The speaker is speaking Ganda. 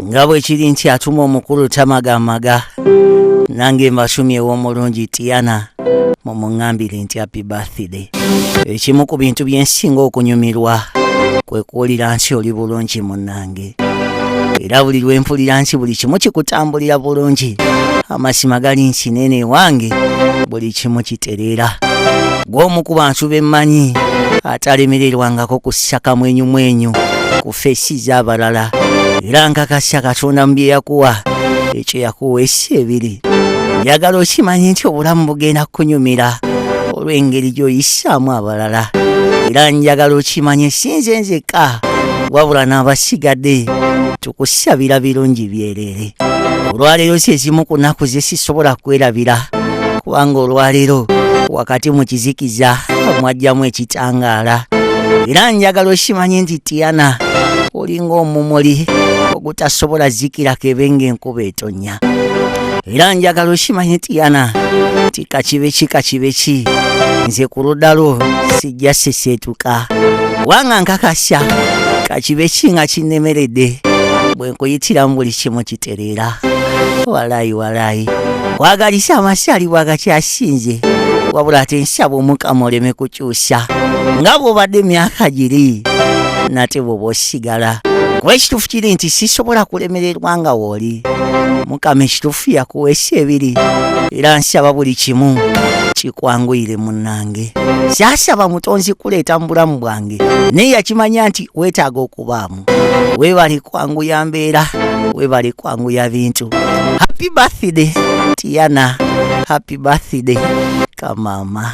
nga bwe kiri nti atuma omukulu tamagamaga nange mbasumyewo omulungi tiana mumuŋambire nti happy birthday ekimu ku bintu byensinga okunyumirwa kwe kuwulira nsi oli bulungi munnange era buli lwe mpulira nsi buli kimu kikutambulira bulungi amasima gali nsi nene ewange buli kimu kitereera gw'omu ku bantu be mmanyi atalemererwangako ku ssakamwenyumwenyu ffe si z'abalala era nkakasa katonda mu bye yakuwa ekyo yakuwa esi ebiri njagala okimanye nti obulamu bugenda kukunyumira olw'engeri gy'oyisaamu abalala era njagala okimanye si nze nzekka wabula n'abasigadde tukusabira birungi byere bwerere olwaleero si ezimu ku nnaku ze sisobola kwerabira kubanga olwaleero wakati mu kizikiza mwajjamu ekitangaala era njagala okimanye nti tiana olinga omumuli ogutasobola zikirako ebe ng'enkuba etonnya era njagala okimanye tiana nti kakibe ki kakibe ki nze ku ludda lwo sijja seseetuka kubanga nkakasya kakibe ki nga kinnemeredde nkuyitiramu buli kimu kitereera walayi walayi wagalisa amasaali bwagakyasinze wabula ate nsaba omukama oleme kukyusa nga bwobadde emyaka giri nate bwoba osigala kuba ekituufu kiri nti sisobola kulemererwa nga wooli mukama ekituufu yakuweesa ebiri era nsaba buli kimu kikwanguyire munange saasaba mutonzi kuleeta mu bulamu bwange naye yakimanya nti weetaaga okubaamu webale kwanguya mbeera webale kwanguya bintu happy birthday tiana happy birthday kamama